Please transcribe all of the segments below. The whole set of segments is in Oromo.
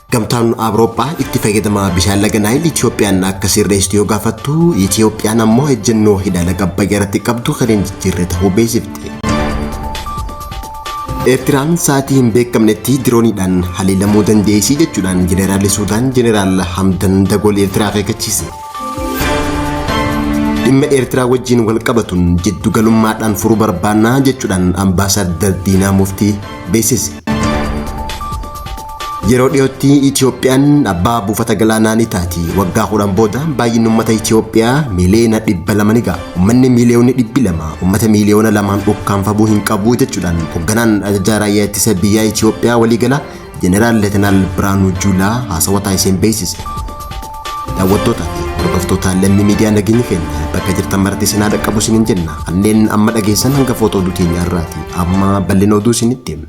Gamtaan Awurooppaa itti fayyadama bishaan laga Naayil Itiyoophiyaan akka sirreessitu yoo gaafattu Itiyoophiyaan ammoo ejjennoo hidha laga Abbayyaa irratti qabdu kan hin jijjiirre ta'uu beeksifte. Eertiraan sa'aatii hin beekamnetti dirooniidhaan haleelamuu dandeessii jechuudhaan Jeneraalli Suudaan Jeneraal Hamdan Dagool Eertiraa akeekkachiise. Dhimma Eertiraa wajjin wal qabatuun jiddu galummaadhaan furuu barbaannaa jechuudhaan ambaasaaddar Diinaa Muftii beeksise. Yeroo dhiyootti Itiyoophiyaan abbaa buufata galaanaa ni taati. Waggaa kudhan booda baay'inni uummata Itiyoophiyaa miiliyoona dhibba lama ni ga'a. Uummanni miiliyoonni dhibbi lama uummata miiliyoona lamaan ukkaamfamuu hin qabu jechuudhaan hoogganaan ajajaa raayyaa ittisa biyyaa Itiyoophiyaa waliigalaa Jeneraal Leetanaal Birhaanuu Juulaa haasawa taasiseen beeksise. Daawwattootaa fi hordoftoota lammii miidiyaa nageenyi keenya bakka jirtan maratti isin haa dhaqqabu isiniin jenna. Kanneen amma dhageessan hanga footoo oduu teenyaa irraati. Amma bal'ina oduu isinitti himna.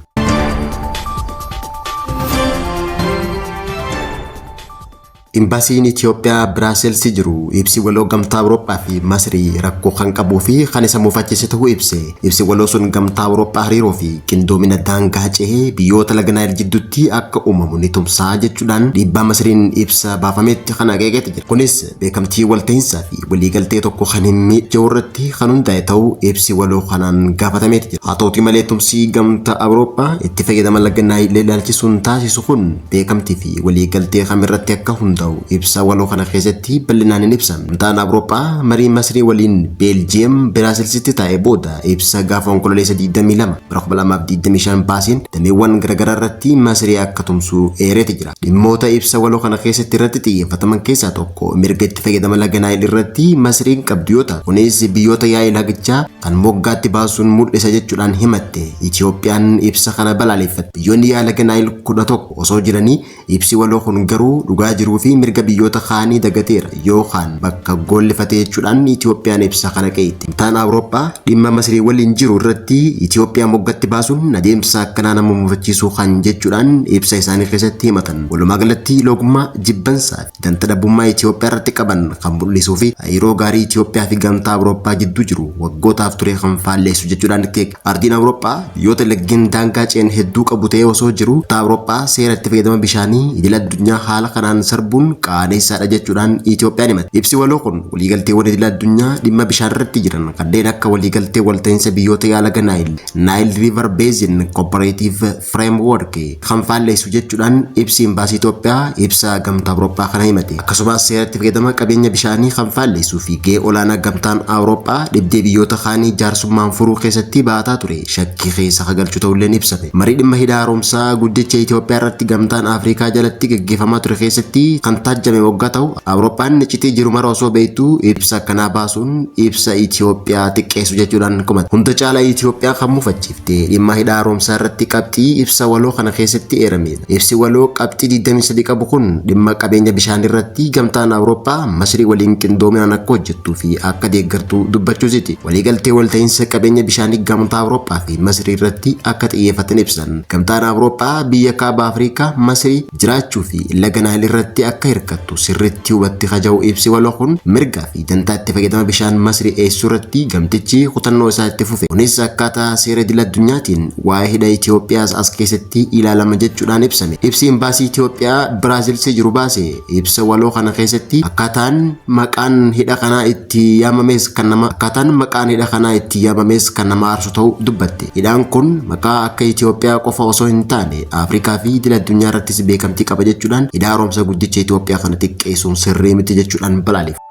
Imbaasiin Itiyoophiyaa Biraaselsi jiru ibsi waloo Gamtaa Awurooppaa fi Masrii rakkoo kan qabuu fi kan isa mufachiise ta'uu ibse. Ibsi waloo sun Gamtaa Awurooppaa hariiroo fi qindoomina daangaa cehe biyyoota laga Naayil jidduutti akka uumamu ni tumsa jechuudhaan dhiibbaa Masriin ibsa baafameetti kan akeekeeti jira. Kunis beekamtii waltahinsaa fi waliigaltee tokko kan hin miidjeu irratti kan hundaa'e ta'uu ibsi waloo kanaan gaafatameeti jira. Haa ta'uutii malee tumsi Gamtaa Awurooppaa itti fayyadama laga Naayil ilaalchisuun taasisu kun beekamtii fi walii galtee kam irratti akka hundaa'u ibsa waloo kana keessatti bal'inaan hin ibsa. Gamtaan Awurooppaa marii Masrii waliin Beeljiyeem Biraasilsitti taa'e booda ibsa gaafa Onkololeessa 22 bara 2025 baaseen dameewwan garaagaraa irratti Masrii akka tumsuu eereeti jira. Dhimmoota ibsa waloo kana keessatti irratti xiyyeeffataman keessaa tokko mirga itti fayyadama laga Naayil irratti Masriin qabdu yoo ta'u kunis biyyoota yaa'ii lagichaa kan moggaatti baasuun mul'isa jechuudhaan himatte. Itiyoophiyaan ibsa kana balaaleffatte. Biyyoonni yaa laga Naayil 11 osoo jiranii ibsi waloo kun garuu dhugaa jiruu fi mirga biyyoota kaanii dagateera yookaan bakka goollifate jechuudhaan Itiyoophiyaan ibsa kana qeeqxi. Gamtaan Awurooppaa dhimma Masrii waliin jiru irratti Itiyoophiyaa moggatti baasuun adeemsa akkanaa nama mufachiisuu kan jechuudhaan ibsa isaanii keessatti himatan. Walumaa galatti loogummaa, jibbansaa fi. Ganta dhabbummaa Itiyoophiyaa irratti qaban kan mul'isuu fi hariiroo gaarii Itiyoophiyaa fi Gamtaa Awurooppaa gidduu jiru waggootaaf ture kan faalleessu jechuudhaan keek ardiin Awurooppaa biyyoota laggeen daangaa ce'an hedduu qabu ta'ee osoo jiru gamtaa Awurooppaa seera itti fayyadama bishaanii idil addunyaa haala kanaan sarbuun qaaneessaadha jechuudhaan Itiyoophiyaan himatti. Ibsi waloo kun waliigalteewwan idil addunyaa dhimma bishaan irratti jiran kanneen akka waliigaltee walta'iinsa biyyoota yaalaga Naayil, Nile River Basin Cooperative, framework kan faalleessu jechuudhaan ibsi imbaasii Itoophiyaa ibsa gamtaa Awurooppaa kana himate. Akkasumas seera itti fayyadama qabeenya bishaanii kan faalleessuu fi gahee olaanaa gamtaan Awurooppaa dhibdee biyyoota kaanii jaarsummaan furuu keessatti bahataa ture shakkii keessa akka galchu ta'ulleen ibsame. Marii dhimma hidha haaromsaa guddicha Itoophiyaa irratti gamtaan Afrikaa jalatti gaggeeffamaa ture keessatti kan taajjame waggaa ta'u Awurooppaan iccitii jiru mara osoo beektuu ibsa akkanaa baasuun ibsa Itoophiyaa xiqqeessu jechuudhaan komate. Hunda caalaa Itoophiyaa kan mufachiifte. Dee dhimma hidha haaromsaa irratti qabxii ibsa waloo kana keessatti eeramedha. Ibsi waloo qabxii 23 qabu kun dhimma qabeenya bishaanii irratti gamtaan Awurooppaa Masrii waliin qindoominaan akka hojjettuu fi akka deeggartu dubbachuusiti. Waliigaltee walta'iinsa qabeenya bishaanii gamtaa Awurooppaa fi Masrii irratti akka xiyyeeffatan ibsan. Gamtaan Awurooppaa biyya kaaba Afrikaa Masrii jiraachuu fi laga Naayil irratti akka hirkattu sirriitti hubatti kaja'u ibsi waloo kun mirga Dantaa itti fayyadama bishaan Masri eessuu irratti gamtichi kutannoo isaa itti fufe. Kunis akkaataa seera idil addunyaatiin waa'ee hidha Itoophiyaas as keessatti ilaalama jechuudhaan ibsame. Ibsi Imbaasii Itoophiyaa Biraazilsi jiru baase ibsa waloo kana keessatti akkaataan maqaan hidha kanaa itti yaamamees kan nama akkaataan maqaan hidha kanaa itti yaamamees kan nama aarsu ta'uu dubbatte. Hidhaan kun maqaa akka Itoophiyaa qofa osoo hin taane Afrikaa fi idil addunyaa irrattis beekamtii qaba jechuudhaan Hidha Haaromsa Guddicha Itoophiyaa kana xiqqeessuun sirrii miti jechuudhaan balaaleffate.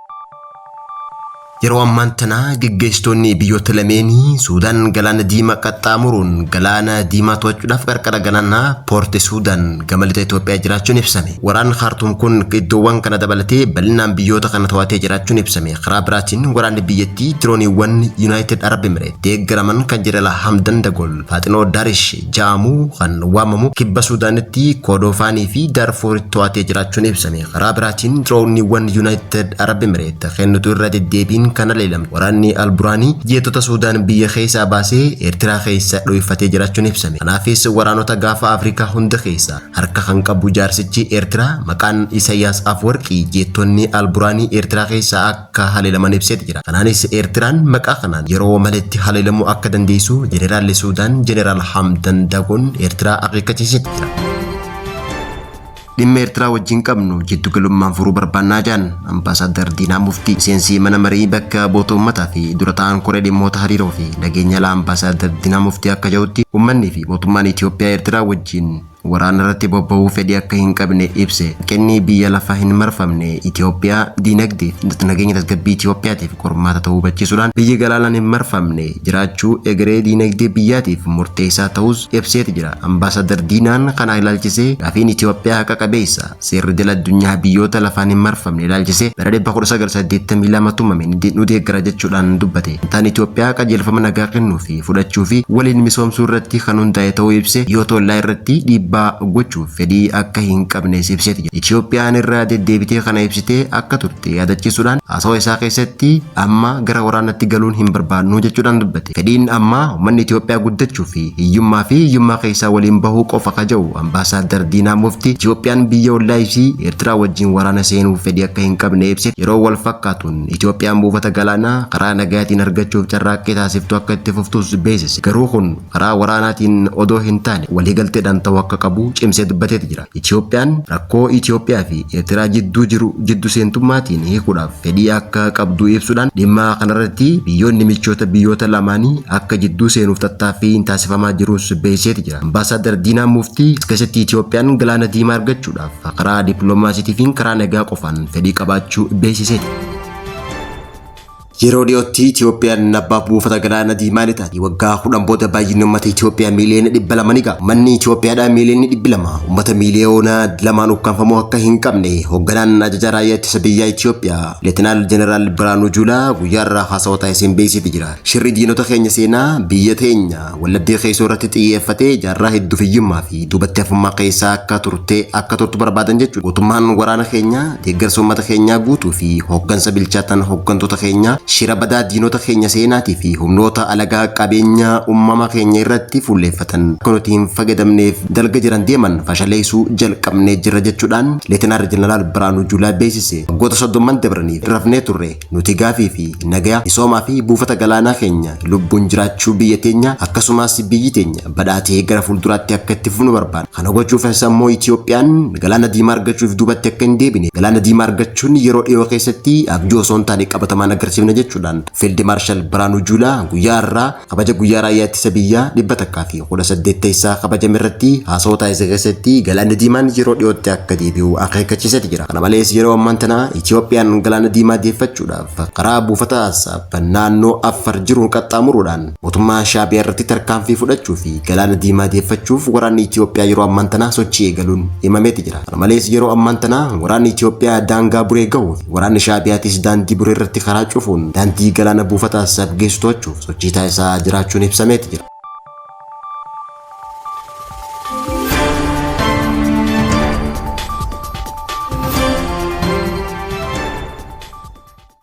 Yeroo ammaan tana geggeessitoonni biyyoota lameenii Suudaan Galaana Diimaa qaxxaamuruun Galaana Diimaa to'achuudhaaf qarqara galaanaa Poorti Suudaan gama lixa Itoophiyaa jiraachuun ibsame. Waraanni Kaartuum kun iddoowwan kana dabalatee bal'inaan biyyoota kana to'atee jiraachuun ibsame. Karaa biraatiin waraanni biyyattii dirooniiwwan Yunaayitid Arab Emireet. deeggaraman kan Jeneraal Hamdan Dagol Faaxinoo Darish ja'amu kan waamamu kibba Suudaanitti Koodoofaanii fi Daarfuuritti to'atee jiraachuun ibsame. Karaa biraatiin diroowniiwwan Yuunaayitid Arab Emireet kennitu irra deddeebiin kan haleelamu waraanni Alburaanii jeettota Suudaan biyya keessaa baasee Eertiraa keessa dho'ifatee jiraachuun ibsame. Kanaafis waraanota gaafa Afrikaa hunda keessaa harka kan qabu jaarsichi Eertiraa maqaan Isayaas Afwarqii jeettonni Alburaanii Eertiraa keessaa akka haleelaman ibseeti jira. Kanaanis Eertiraan maqaa kanaan yeroo maletti haleelamuu akka dandeessu Jeneraalli Suudaan Jeneraal Hamdan Dagoon Eertiraa akeekkachiiseeti jira. Dhimma Eertiraa wajjin qabnu jiddu galummaan furuu barbaannaa jedhan Ambaasaaddar Diinaa Muftii miseensi mana marii bakka bu'oota uummataa fi dura ta'an koree dhimmoota hariiroo fi nageenya alaa Ambaasaaddar Diinaa Muftii akka jedhutti uummanni fi mootummaan Itoophiyaa Eertiraa wajjin Waraana irratti bobba'uu fedhii akka hin qabne ibse. Hanqinni biyya lafa hin marfamne Itoophiyaa diinagdee fi nageenya tasgabbii Itoophiyaatiif qormaata ta'uu hubachiisuudhaan biyyi galaanaan hin marfamne jiraachuu egeree diinagdee biyyaatiif murteessaa ta'uus ibseeti jira. Ambaasaaddar Diinaan kana ilaalchisee gaafiin Itoophiyaa haqa qabeessa. Seerri idil addunyaa biyyoota lafaan hin marfamne ilaalchisee bara 1982 tumame ni de- nu deeggara jechuudhaan dubbate. Gamtaan Itoophiyaa qajeelfama nagaa kennuu fi fudhachuu fi waliin misoomsuu irratti kan hundaa'e ta'uu ibsee biyyoota ollaa irratti dhiibbaa gochuuf fedhii akka hin qabnes ibseeti jira. Itoophiyaan irra deddeebitee kana ibsitee akka turte yaadachiisuudhaan haasawa isaa keessatti amma gara waraanatti galuun hin barbaadnu jechuudhaan dubbate. Itoophiyaatti. Fedhiin ammaa ummanni Itoophiyaa guddachuu fi hiyyummaa fi hiyyummaa keessaa waliin bahuu qofa ka ja'u Ambaasaaddar Diinaa Mufti, Itoophiyaan biyya ollaa isii Eertiraa wajjiin waraana seenuuf fedhii akka hin qabne ibse. Yeroo wal fakkaatuun, Itoophiyaan buufata galaanaa karaa nagayaatiin argachuuf carraaqqii taasiftu akka itti fuftuus beeksise. Garuu kun karaa waraanaatiin odoo hin taane waliigalteedhaan ta'uu akka qabu cimsee dubbateeti jira. Itiyoophiyaan rakkoo Itiyoophiyaa fi Eertiraa jidduu jiru jiddu seentummaatiin hiikuudhaaf fedhii akka qabdu ibsuudhaan dhimma kanarratti biyyoonni michoota biyyoota lamaanii akka jidduu seenuuf tattaaffiin taasifamaa jirus beeksiseeti jira. Ambaasaaddar Diinaa Muuftii as keessatti Itiyoophiyaan Galaana Diimaa argachuudhaaf karaa dippiloomaasiitiifiin karaa nagaa qofaan fedhii qabaachuu beeksiseeti. Yeroo dhiyootti Itiyoophiyaan abbaa buufata galaana diimaa ni taati. Waggaa kudhan booda baay'inni uummata Itiyoophiyaa miiliyoona dhibba lama ni ga'a. Uummanni Itiyoophiyaadhaa miiliyoonni dhibbi lama uummata miiliyoona lamaan ukkaamfamuu akka hin qabne hoogganaan ajajaa raayyaa ittisa biyyaa Itiyoophiyaa Leetinaal Jeneraal Biraanuu Juulaa guyyaa irraa haasawa taasiseen beeksiifi jira. Shirri diinota keenya seenaa biyya teenya Wallaggee keessoo irratti xiyyeeffatee jaarraa hedduuf hiyyummaa fi duubatti hafummaa keessaa akka turtee akka turtu barbaadan jechuudha. Gootummaan waraana keenyaa, deeggarsa uummata keenyaa guutuu fi hooggansa bilchaataan hooggantoota keenyaa shira badaa diinota keenya seenaatii fi humnoota alagaa qabeenya uumamaa keenya irratti fuulleeffatan akka nuti hin fayyadamneef dalga jiran deeman fashaleessuu jalqabnee jirra jechuudhaan Leetinaar Jeneraal Biraanuu Juulaa beeksise. Waggoota soddomman dabraniif rafnee turre. Nuti gaafii fi nagaya, misoomaa fi buufata galaanaa keenya, lubbuun jiraachuu biyya teenyaa, akkasumaas biyyi teenya badhaatee gara fuulduraatti akka itti fufnu barbaanna. Kana gochuufis ammoo Itiyoophiyaan Galaana Diimaa argachuuf duubatti akka hin deebine, Galaana Diimaa argachuun yeroo dhiyoo keessatti abjuu osoo hin taane qabatamaan agarsiifna jechuudhaan Fiild Maarshal Biraanuu Juulaa guyyaa har'aa Kabaja guyyaa raayyaa ittisa biyyaa 118 teessaa kabajame irratti haasawaa taasise keessatti galaanni diimaan yeroo dhiyootti akka deebi'u akeekkachiiseeti jira. Kana malees yeroo ammaan tana Itiyoophiyaan galaana diimaa deeffachuudhaaf karaa buufata Assaab naannoo Affar jiruun qaxxaamuruudhaan mootummaa Shaabiyaa irratti tarkaanfii fudhachuu fi galaana diimaa deeffachuuf waraanni Itiyoophiyaa yeroo ammaan tana sochii eegaluun himameeti jira. Kana malees yeroo ammaan tana waraanni Itiyoophiyaa daangaa Buree gahuu Waraanni Shaabiyaatis daandii Buree irratti karaa cufuun daandii galaana buufata Asab geessu to'achuuf sochii taasisaa jiraachuun ibsameeti jira.